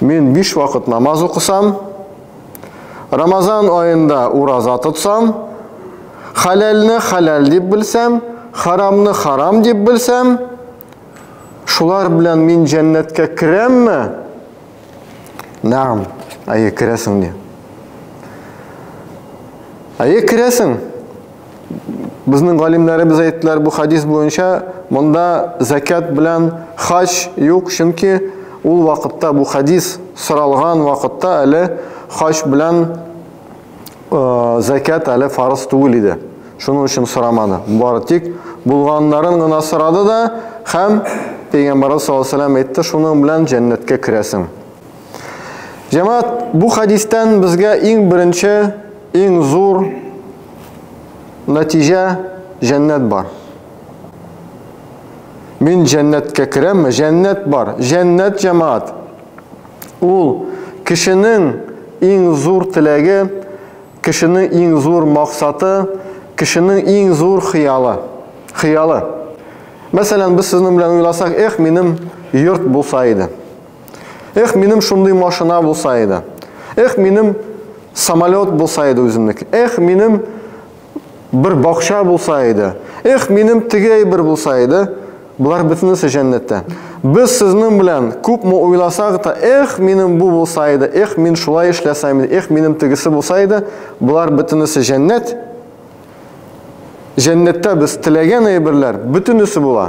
Мин биш вакыт намаз укысам, Рамазан аенда ураза тотсам, хәләлне хәләл дип белсәм, харамны харам дип белсәм, шулар белән мин җәннәткә керәмме? Нәм, әйе, керәсең ди. Әйе, керәсең. Безнең галимнәребез әйттеләр бу хәдис буенча, монда закят белән хаҗ юк, чөнки ул вакытта бу хәдис соралган вакытта әле хаҗ белән э, закят әле фарыз түгел иде. Шуның өчен сорамады. Бары тик булганнарын гына сорады да һәм Пәйгамбарыбыз саллаллаху алейһи ва сәлләм әйтте, шуның белән җәннәткә керәсең. Җәмәгать, бу хәдистән безгә иң беренче, иң зур Нәтиҗә, җәннәт бар. Мин җәннәткә керәмме? Җәннәт бар. Җәннәт, җәмаат, ул кешенең иң зур теләге, кешенең иң зур максаты, кешенең иң зур хыялы. Хыялы. Мәсәлән, без сезнең белән уйласак, эх, минем йорт булса иде. Эх, минем шундый машина булса иде. Эх, минем самолет булса иде үземнеке. Эх, минем бер бакча булса иде. Эх, минем тегей бер булса иде. Булар бөтенесе җәннәттә. Без сезнең белән күпме уйласак та, эх, минем бу булса иде, эх, мин шулай эшләсәм иде, эх, минем тегесе булса иде, булар бөтенесе җәннәт. Җәннәттә без теләгән әйберләр бөтенесе була.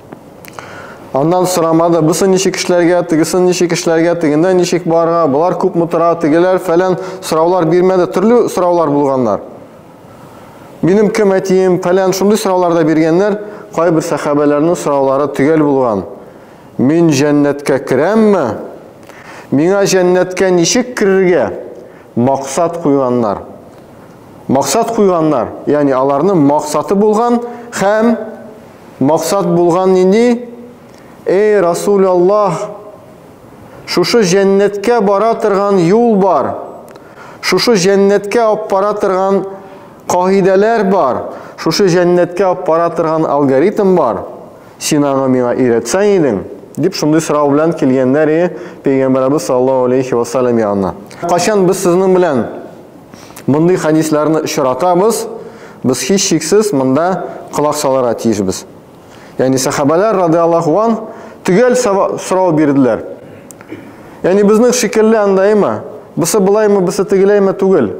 Аннан сорамады, бусы ничек эшләргә, тегесен ничек эшләргә, тегендә ничек барга, болар күп мутыра, тегеләр фәлән сораулар бирмәде, төрле сораулар булганнар. Минем кем әтием, фәлән шундый сораулар да биргәннәр, кайбер сәхәбәләрнең сораулары төгәл булган. Мин җәннәткә керәмме? Миңа җәннәткә ничек керергә? Максат куйганнар. Максат куйганнар, ягъни аларның максаты булган һәм Максат булган нинди? Эй, Расул Аллаһ, шушы җәннәткә бара торган юл бар, шушы җәннәткә алып бара торган кагыйдәләр бар, шушы җәннәткә алып бара торган алгоритм бар. Син аны миңа өйрәтсәң идең, дип шундый сорау белән килгәннәр и пәйгамбәребез саллаллаһу алейхи вассалам янына. Качан без сезнең белән Мондый хәдисләрне очратабыз, без һичшиксез монда колак салырга тиешбез. Ягъни сахабәләр радиаллаһу ан төгәл сорау бирделәр. Ягъни безнең шикелле андаймы? Бусы булаймы, бусы тегеләйме түгел.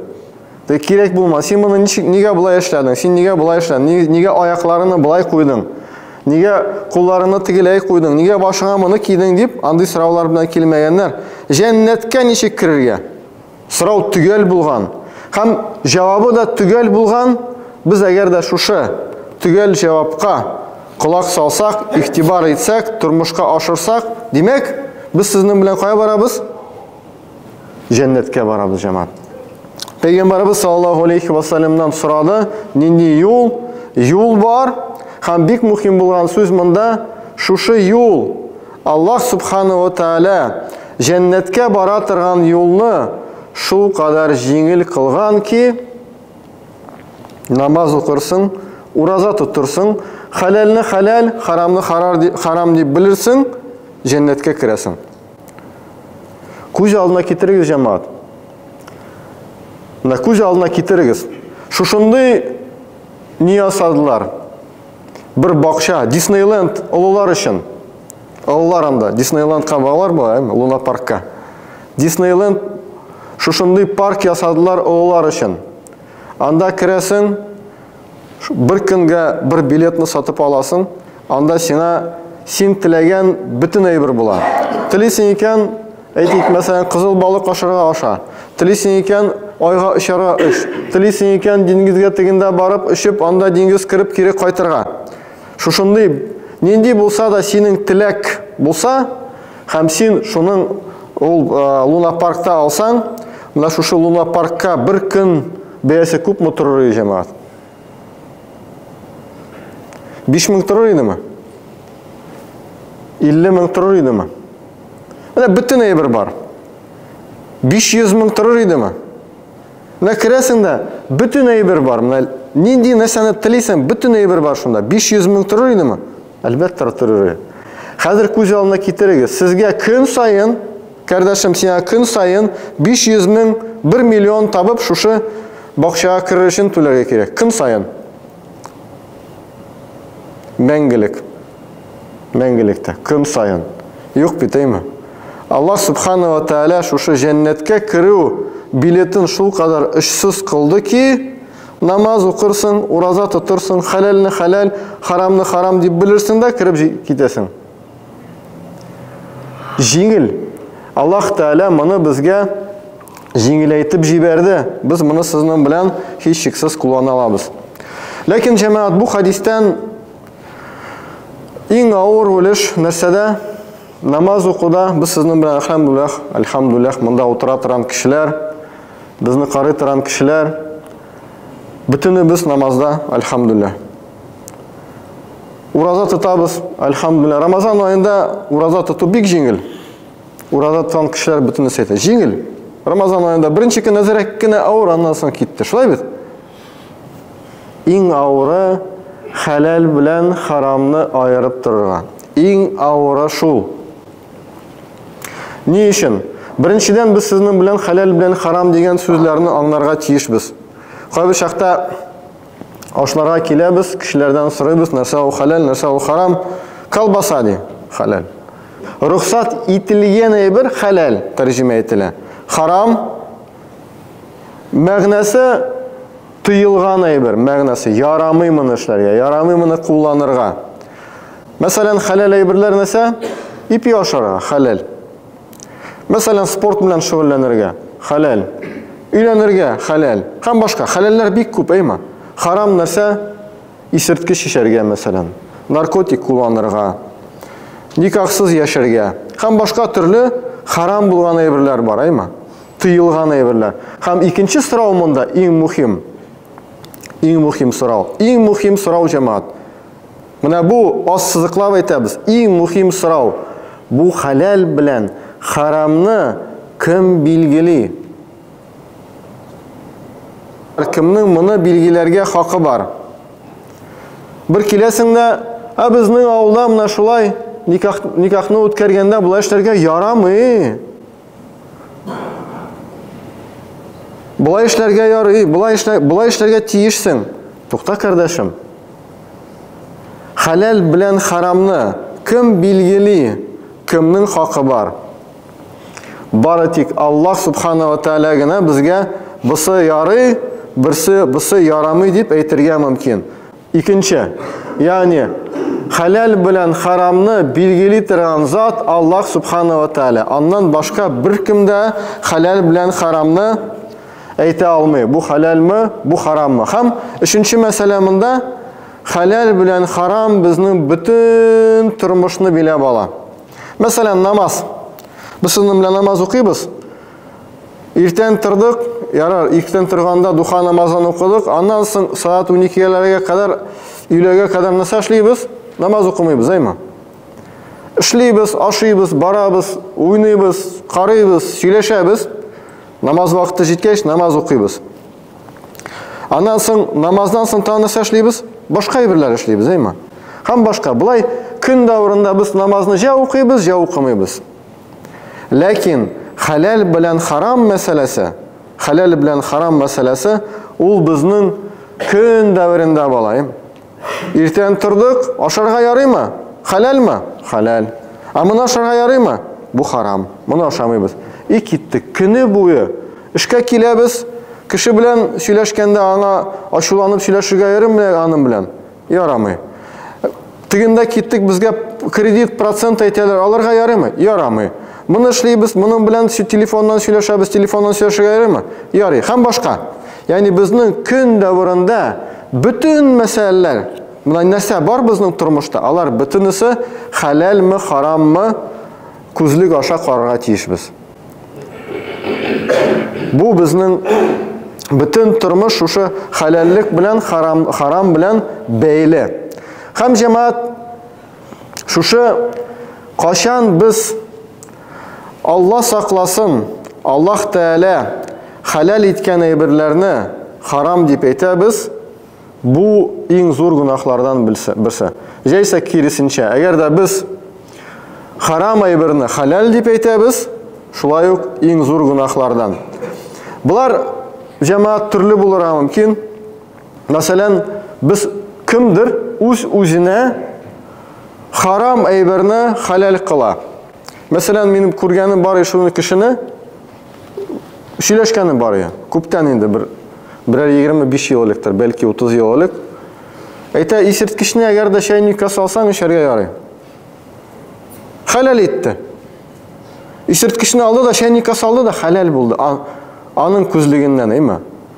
Тә кирәк булма. Син моны ничек нигә болай эшләдең? Син нигә болай эшләдең? Нигә аякларыңны болай куйдың? Нигә кулларыңны тегеләй куйдың? Нигә башыңа моны кидең дип андый сораулар белән килмәгәннәр. Җәннәткә ничек керергә? Сорау төгәл булган һәм җавабы да төгәл булган. Без әгәр дә шушы төгәл җавапка колак салсак, игътибар итсәк, тормышка ашырсак, димәк, без сезнең белән кая барабыз? Җәннәткә барабыз, җәмәгать. Пәйгамбарыбыз саллаллаһу алейхи ва саллямнан сорады, нинди юл? Юл бар. Һәм бик мөһим булган сүз монда, шушы юл Аллаһ Субхана ва Тәгалә җәннәткә бара торган юлны шул кадәр җиңел кылган ки, намаз укырсың, ураза тотырсың, хәләлне хәләл, харамны харам дип белерсең, җәннәткә керәсең. Күз алдына китерегез, җәмәгать. Менә күз алдына китерегез. Шушындый ни ясадылар? Бер бакча, Диснейленд олылар өчен. Олылар анда, Диснейлендка баралар була, әйме, Луна паркка. Диснейленд шушындый парк ясадылар олылар өчен. Анда керәсең, бер көнгә бер билетны сатып аласың, анда сина син теләгән бөтен әйбер була. Телисең икән, Әйтик, мәсәлән, кызыл балык ашарга аша. Телисең икән, айга очарга өш. Телисең икән, диңгезгә тегендә барып өшеп, анда диңгез кереп кире кайтырга. Шушындый нинди булса да синең теләк булса, һәм син шуның ул Луна паркта алсаң, менә шушы Луна паркка бер көн бәясе күпме торыр иде җәмәгать? 5000 торыр идеме? 50 мең торыр идеме? Менә бөтен әйбер бар. 500 мең торыр идеме? Менә керәсең дә, бөтен әйбер бар. Менә нинди нәрсәне телисең, бөтен әйбер бар шунда. 500 мең торыр идеме? Әлбәттә, торыр иде. Хәзер күз алдына китерегез. Сезгә көн саен, кардәшем, сиңа көн саен 500 мең, 1 миллион табып, шушы бакчага керер өчен түләргә кирәк. Көн саен. Мәңгелек. Мәңгелектә, көн саен. Юк бит, әйме? Аллаһ Субхана ва Тәәлә шушы җәннәткә керү билетын шул кадәр очсыз кылды ки, намаз укырсың, ураза тотырсың, хәләлне хәләл, харамны харам дип белерсең дә кереп китәсең. Җиңел. Аллаһ Тәәлә моны безгә җиңеләйтеп җибәрде. Без моны сезнең белән һичшиксез куллана алабыз. Ләкин җәмәгать бу хадистән Иң авыр үлеш нәрсәдә? Намаз укуда без сезнең белән әлхәмдүлилләх, әлхәмдүлилләх монда утыра торган кешеләр, безне карый торган кешеләр бөтенебез намазда, әлхәмдүлилләх. Ураза тотабыз, әлхәмдүлилләх. Рамазан аенда ураза тоту бик җиңел. Ураза тоткан кешеләр бөтенесе әйтә, җиңел. Рамазан аенда беренче көн әзрәк кенә авыр, аннан соң китте. Шулай бит? Иң авыры, хәләл белән харамны аерып торырга. Иң авыры шул. Ни өчен? Беренчедән, без сезнең белән хәләл белән харам дигән сүзләрне аңларга тиешбез. Кайбер чакта ашларга киләбез, кешеләрдән сорыйбыз, нәрсә ул хәләл, нәрсә ул харам. Колбаса ди, хәләл. Рөхсат ителгән әйбер хәләл тәрҗемә ителә. Харам Мәгънәсе тыелган әйбер, мәгънәсе ярамый моны эшләргә, ярамый моны кулланырга. Мәсәлән, хәләл әйберләр нәрсә? Ипи ашарга, хәләл. Мәсәлән, спорт белән шөгыльләнергә, хәләл. Өйләнергә, хәләл. Һәм башка. Хәләлләр бик күп, әйма. Харам нәрсә? Исерткеч эчәргә, мәсәлән, наркотик кулланырга, никахсыз яшәргә һәм башка төрле харам булган әйберләр бар, әйма? Тыелган әйберләр. Һәм икенче сорау монда иң мөһим. Иң мөһим сорау. Иң мөһим сорау, җәмәгать. Менә бу аз сызыклап әйтәбез. Иң мөһим сорау. Бу хәләл белән харамны кем билгели? Кемнең моны билгеләргә хакы бар? Бер киләсең дә, ә безнең авылда менә шулай никах, никахны үткәргәндә болай эшләргә ярамый. Болай эшләргә ярый, болай эшлә, болай эшләргә тиешсең. Тукта, кардәшем. Хәләл белән харамны кем билгели? Кемнең хакы бар? Бары тик Аллаһ Субхана ва Тәәлә генә безгә бысы ярый, берсе бысы ярамый дип әйтергә мөмкин. Икенче, ягъни хәләл белән харамны билгели торган зат Аллаһ Субхана ва Тәәлә. Аннан башка беркем дә хәләл белән харамны әйтә алмый. Бу хәләлме, бу хараммы? Һәм өченче мәсьәлә монда хәләл белән харам безнең бөтен тормышны биләп ала. Мәсәлән, намаз. Без сезнең белән намаз укыйбыз. Иртән тордык, ярар, иртән торганда духа намазын укыдык. Аннан соң сәгать 12-ләргә кадәр, өйләгә кадәр нәрсә эшлибез? Намаз укымыйбыз, әйме? Эшлибез, ашыйбыз, барабыз, уйныйбыз, карыйбыз, сөйләшәбез. Намаз вакыты җиткәч, намаз укыйбыз. Аннан соң намаздан соң тагын нәрсә эшлибез? Башка әйберләр эшлибез, әйме? Һәм башка. Болай көн дәверендә без намазны җә укыйбыз, җә укымыйбыз. Ләкин хәләл белән харам мәсьәләсе, хәләл белән харам мәсьәләсе ул безнең көн дәверендә балаем. Иртән тордык, ашарга ярыймы? Хәләлме? Хәләл. Ә моны ашарга ярыймы? Бу харам. Моны ашамыйбыз. И киттек. Көне буе эшкә киләбез. Кеше белән сөйләшкәндә аңа ачуланып сөйләшергә ярыймы аның белән? Ярамый. Тегендә киттек, безгә кредит процент әйтәләр, аларга ярыймы? Ярамый. Моны эшлибез, моның белән телефоннан сөйләшәбез, телефоннан сөйләшергә ярыймы? Ярый. Һәм башка. Ягъни безнең көн дәврында бөтен мәсьәләләр, менә нәрсә бар безнең тормышта, алар бөтенесе хәләлме, хараммы күзлек аша карарга тиешбез. Бу безнең бөтен тормыш шушы хәләллек белән харам, харам белән бәйле. Һәм җәмәгать Шушы качан без Алла сакласын, Аллаһ Тәгалә хәләл иткән әйберләрне харам дип әйтәбез, бу иң зур гөнаһлардан берсе. Җәйсә киресенчә, әгәр дә без харам әйберне хәләл дип әйтәбез, шулай ук иң зур гөнаһлардан. Болар җәмәгать төрле булырга мөмкин. Мәсәлән, без кемдер үз-үзенә харам әйберне халәл кыла. Мәсәлән, минем күргәнем бар шуны кешене сөйләшкәнем бар я. Күптән инде бер берәр 25 ел электер, бәлки 30 ел элек. Әйтә, исерткечне әгәр дә чәйниккә салсаң, эчәргә ярый. Халәл итте. Исерткечне алды да чәйниккә салды да халәл булды. Аның күзлегеннән, әйме?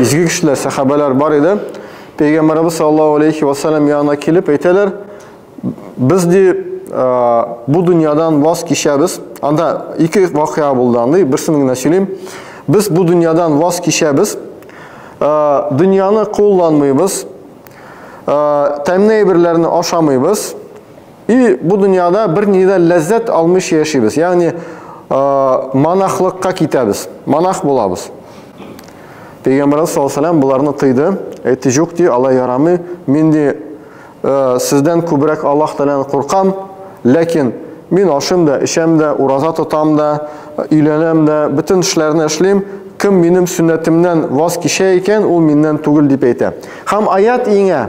Изге кешеләр, сәхабәләр бар иде. Пәйгамбәрбез саллаллаһу алейхи ва саллям янына килеп әйтәләр, без ди бу дөньядан ваз кичәбез. Анда ике вакыйга булды андый, берсен генә сөйлим. Без бу дөньядан ваз кичәбез. Дөньяны кулланмыйбыз. Тәмне әйберләрне ашамыйбыз. И бу дөньяда бер нидә ләззәт алмыйча яшибез. Ягъни э, монахлыкка китәбез, монах булабыз. Пәйгамбәрбез саллаллаһу алейһи ва боларны тыйды. Әйтте, "Юк ди, алай ярамый. Мин ди э, сездән күбрәк Аллаһ Тәгаләдән куркам, ләкин мин ашым да, эчәм дә, ураза тотам да, өйләнәм дә, бөтен эшләрне эшлим. Кем минем сөннәтемнән ваз кичә икән, ул миннән түгел", дип әйтә. Хәм аят иңә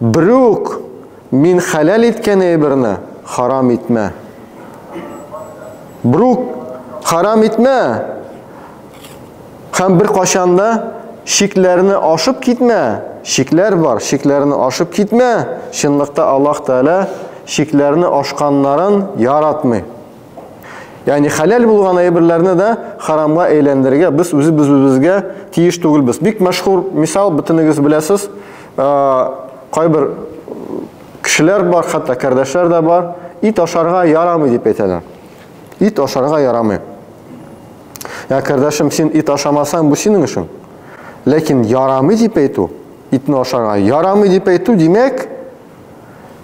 Брюк, мин хәләл иткән әйберне харам итмә. Брюк, харам итмә һәм беркайчан да чикләрне ашып китмә. Чикләр бар, чикләрне ашып китмә. Чынлыкта Аллаһ Тәгалә чикләрне ашканнарын яратмый. Ягъни хәләл булган әйберләрне дә харамга әйләндерергә без үзебез үзебезгә тиеш түгелбез. Бик мәшһүр мисал бөтенегез беләсез. Кайбер кешеләр бар, хәтта кардәшләр дә бар. Ит ашарга ярамый дип әйтәләр. Ит ашарга ярамый. Я кардәшем, син ит ашамасаң, бу синең эшең. Ләкин ярамый дип әйтү, итне ашарга ярамый дип әйтү, димәк,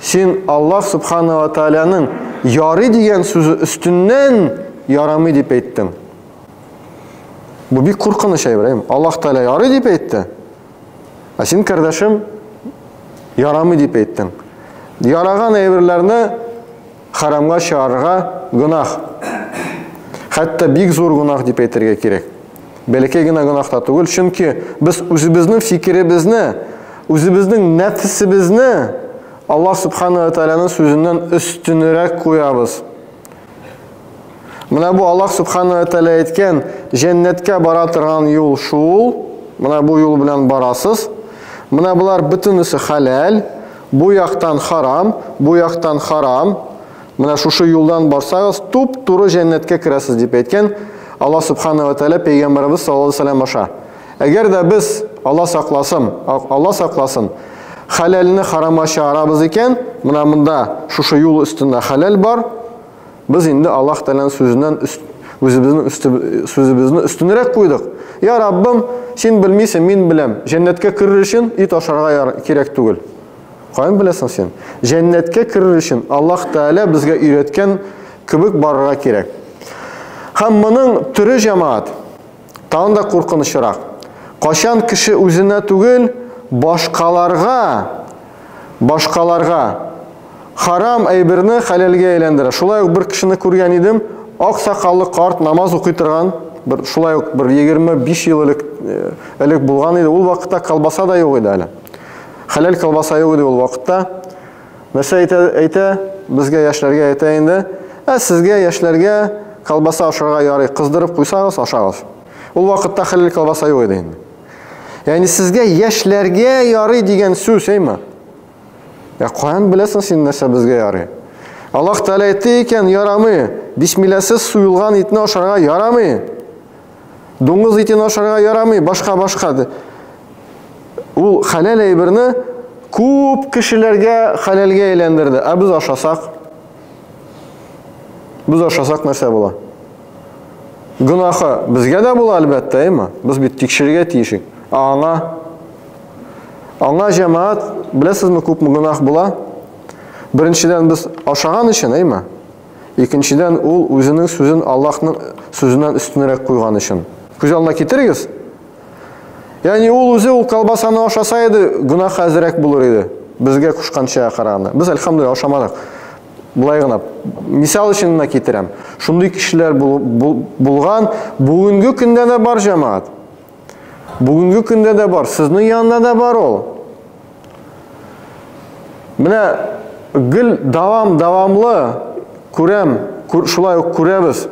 Син Аллаһ Субхана ва Тааляның ярый дигән сүзе өстеннән ярамый дип әйттең. Бу бик куркыныч, Ибраһим. Аллаһ Тааля ярый дип әйтте. Ә син, кардәшем, ярамый дип әйттең. Яраган әйберләрне Харамга чыгарырга гөнаһ. Хәтта бик зур гөнаһ дип әйтергә кирәк. Бәләкәй генә гөнаһ та түгел, чөнки без үзебезнең фикеребезне, үзебезнең нәфсебезне Аллаһ Субхана ва Тааляның сүзеннән өстенрәк куябыз. Менә бу Аллаһ Субхану ва Тәгалә әйткән, җәннәткә бара торган юл шул. Менә бу юл белән барасыз. Менә болар бөтенесе хәләл, бу яктан харам, бу яктан харам. Менә шушы юлдан барсагыз, туп-туры җәннәткә керәсез дип әйткән Аллаһ Субхану ва Тәгалә пәйгамбәребез саллаллаһу алейһи ва аша. Әгәр дә без Аллаһ сакласын, Аллаһ сакласын, хәләлне харама чыгарабыз икән, менә монда шушы юл өстендә хәләл бар, Без инде Аллаһ Тәгаләнең сүзеннән үзебезнең сүзебезне өстенрәк куйдык. Я Раббым, син белмисең, мин беләм. Җәннәткә керер өчен ит ашарга кирәк түгел. Каян беләсең син? Җәннәткә керер өчен Аллаһ Тәгалә безгә өйрәткән кебек барырга кирәк. Һәм моның төре җәмаат. Тагын да куркынычрак. Кайчан кеше үзенә түгел, башкаларга, башкаларга харам әйберне хәләлгә әйләндерә. Шулай ук бер кешене күргән идем, ак сакаллы карт намаз укый торган, бер шулай ук бер 25 ел элек э, элек булган иде. Ул вакытта колбаса да юк иде әле. Хәләл колбаса юк иде ул вакытта. Нәрсә әйтә, әйтә? Безгә яшьләргә әйтә инде. Ә сезгә яшьләргә колбаса ашарга ярый, кыздырып куйсагыз, ашагыз. Ул вакытта хәлил колбаса юк иде инде. Ягъни сезгә яшьләргә ярый дигән сүз, әйме? Ә каян беләсең син нәрсә безгә ярый? Аллаһ Тәгалә әйтте икән, ярамый. Бисмилласыз суелган итне ашарга ярамый. Дуңгыз итен ашарга ярамый, башка-башка ди. Ул хәләл әйберне күп кешеләргә хәләлгә әйләндерде. Ә без ашасак? Без ашасак нәрсә була? Гынахы безгә дә була әлбәттә, әйме? Без бит тикшерергә тиешик. Аңа Аңа җәмәгать, беләсезме, күпме гынах була? Беренчедән без ашаган өчен, әйме? Икенчедән, ул үзенең сүзен Аллаһның сүзеннән өстенрәк куйган өчен. Күз алдына китерегез. Ягъни ул үзе ул колбасаны ашаса иде, гөнаһы әзрәк булыр иде. Безгә кушкан чәйгә караганда. Без альхамдулилла ашамадык. Булай гына мисал өчен генә китерәм. Шундый кешеләр бул, бул, булган бүгенге көндә дә бар җәмәгать. Бүгенге көндә дә бар, сезнең янында да бар ул. Менә гел дәвам-дәвамлы күрәм, шулай ук күрәбез.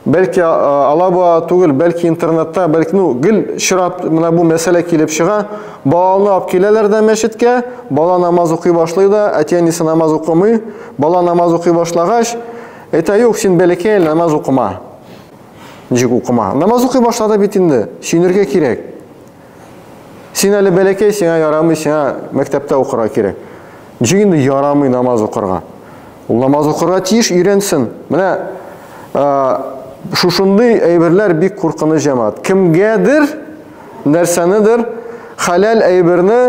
Бәлки алаба түгел, бәлки интернетта, бәлки ну гел чират менә бу мәсьәлә килеп чыга. Баланы алып киләләр дә мәчеткә, бала намаз укый башлый да, әти-әнисе намаз укымый. Бала намаз укый башлагач, әйтә, юк, син бәләкәй, намаз укыма. Ничек укыма? Намаз укый башлады бит инде, сөенергә кирәк. Син әле бәләкәй, сиңа ярамый, сиңа мәктәптә укырга кирәк. Ничек инде ярамый намаз укырга? Ул намаз укырга тиеш, өйрәнсен. Менә шушындый әйберләр бик куркыныч җәмәгать. Кемгәдер нәрсәнедер халал әйберне,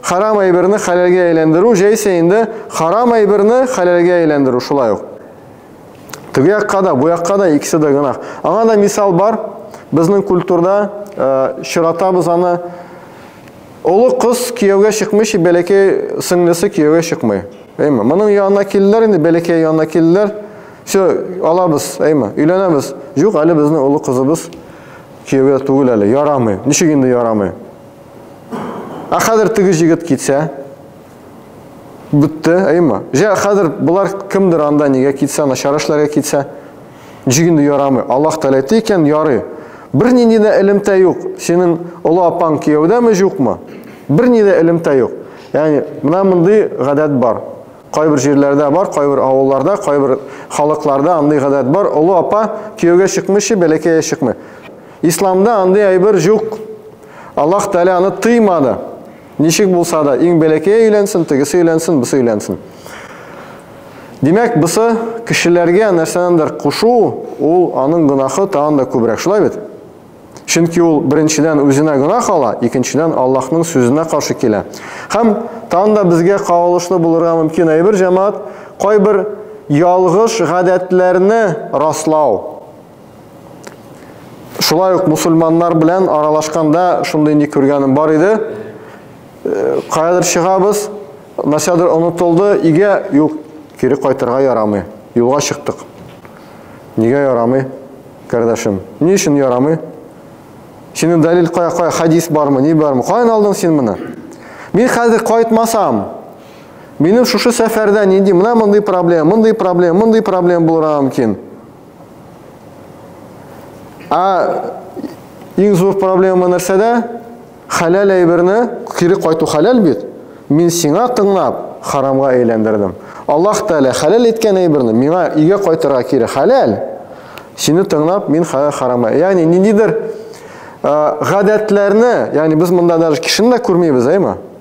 харам әйберне халалгә әйләндерү, җәйсә инде харам әйберне халалгә әйләндерү шулай ук. Теге якка да, бу якка да икесе дә гөнаһ. Аңа да мисал бар. Безнең культурда э, чиратабыз аны олы кыз кияүгә чыкмыйча бәләкәй сеңлесе кияүгә чыкмый. Әйме, моның янына килделәр инде, бәләкәй янына килделәр. Все, алабыз, әйме, өйләнәбез. Юк, әле безнең олы кызыбыз кияүгә түгел әле, ярамый. Ничек инде ярамый? Ә хәзер теге җигет китсә, Бетте, әйма. Җә, хәзер болар кемдер анда нигә китсә, начар эшләргә китсә, ничек инде ярамый? Аллаһ теләтте икән, ярый. Бернинди дә элемтә юк. Синең олы апаң кияүдәме, юкмы? Берни дә элемтә юк. Ягъни, менә мондый гадәт бар. Кайбер җирләрдә бар, кайбер авылларда, кайбер халыкларда андый гадәт бар. Олы апа кияүгә чыкмыйча, бәләкәе чыкмый. Исламда андый әйбер юк. Аллаһ Тәгалә аны тыймады. Ничек булса да, иң бәләкәе өйләнсен, тегесе өйләнсен, бусы өйләнсен. Димәк, бусы кешеләргә нәрсәнәндер кушу, ул аның гынахы тагын да күбрәк, шулай бит? Чөнки ул беренчедән үзенә гынах ала, икенчедән Аллаһның сүзенә каршы килә. Һәм тагын да безгә кагылышлы булырга мөмкин әйбер, җәмаат, кайбер ялгыш гадәтләрне раслау. Шулай ук мусульманнар белән аралашканда шундый ни күргәнем бар иде. Э, каядыр чыгабыз, нәрсәдер онытылды, игә, юк, кире кайтырга ярамый. Юлга чыктык. Нигә ярамый, кардәшем? Ни өчен ярамый? Синең дәлил кая, кая, хадис бармы, ни бармы? Каян алдың син моны? Мин хәзер кайтмасам, минем шушы сәфәрдә нинди, менә мондый проблема, мондый проблема, мондый проблема булырга мөмкин. Ә иң зур проблема нәрсәдә? Хәләл әйберне кире кайту хәләл бит. Мин сиңа тыңлап, харамга әйләндердем. Аллаһ Тәгалә хәләл иткән әйберне миңа өйгә кайтырга кире хәләл. Сине тыңлап, мин хәләл харамга. Ягъни ниндидер гадәтләрне, ягъни без монда даже кешене дә күрмибез, әйме?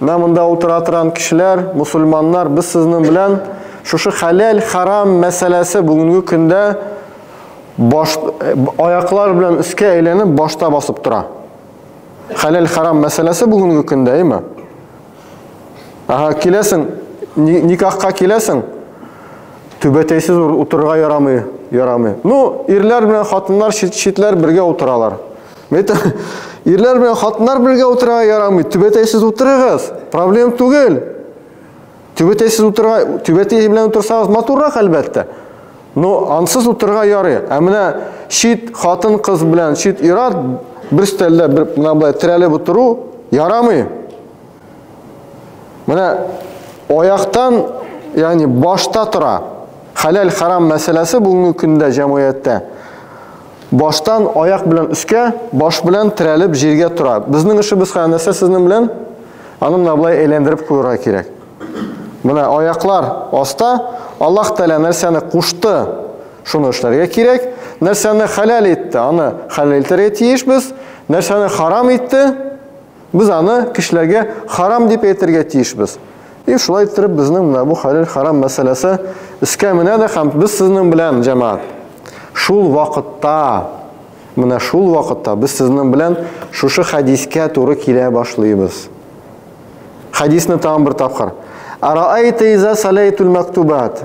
Менә монда утыра торган кешеләр, мусульманнар, без сезнең белән шушы хәләл, харам мәсьәләсе бүгенге көндә баш аяклар белән өскә әйләнеп башта басып тора. Хәләл, харам мәсьәләсе бүгенге көндә, әйме? Ага, киләсең, никахка киләсең, түбәтәйсез утырырга ярамый, ярамый. Ну, ирләр белән хатыннар читләр бергә утыралар. Мәйтәм, ирләр белән хатыннар бергә утырырга ярамый. Түбәтәйсез утырыгыз. Проблем түгел. Түбәтәйсез утырырга, түбәтәй белән утырсагыз матуррак әлбәттә. Но ансыз утырырга ярый. Ә менә чит хатын кыз белән чит ират бер стәлдә бер менә булай терәлеп утыру ярамый. Менә аяктан, ягъни башта тора. Хәләл харам мәсьәләсе бүгенге көндә җәмгыятьтә баштан аяк белән өскә, баш белән терәлеп җиргә тора. Безнең эшебез хәзер нәрсә сезнең белән? Аны менә болай әйләндереп куярга кирәк. Менә аяклар аста, Аллаһ Тәгалә нәрсәне кушты, шуны эшләргә кирәк. Нәрсәне хәләл итте, аны хәләл итәргә тиешбез. Нәрсәне харам итте, Без аны кешеләргә харам дип әйтергә тиешбез. И шулай иттереп безнең менә бу хәләл харам мәсьәләсе искә менә дә һәм без сезнең белән җәмәгать шул вакытта менә шул вакытта без сезнең белән шушы хәдискә туры килә башлыйбыз. Хәдисне тагын бер тапкыр. Араайта иза салайтул мактубат.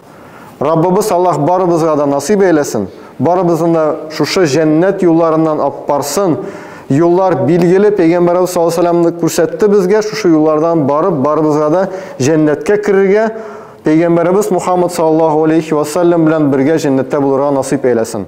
Раббыбыз Аллаһ барыбызга да насыйп әйләсен, барыбызны да шушы җәннәт юлларыннан аппарсын. Юллар билгеле, пәйгамбәрбез саллаллаһу алейһи вәсәлләмне күрсәтте безгә, шушы юллардан барып, барыбызга да җәннәткә керергә, пәйгамбәрбез Мухаммад саллаллаһу алейһи вәсәлләм белән бергә җәннәттә булырга насыйп әйләсен.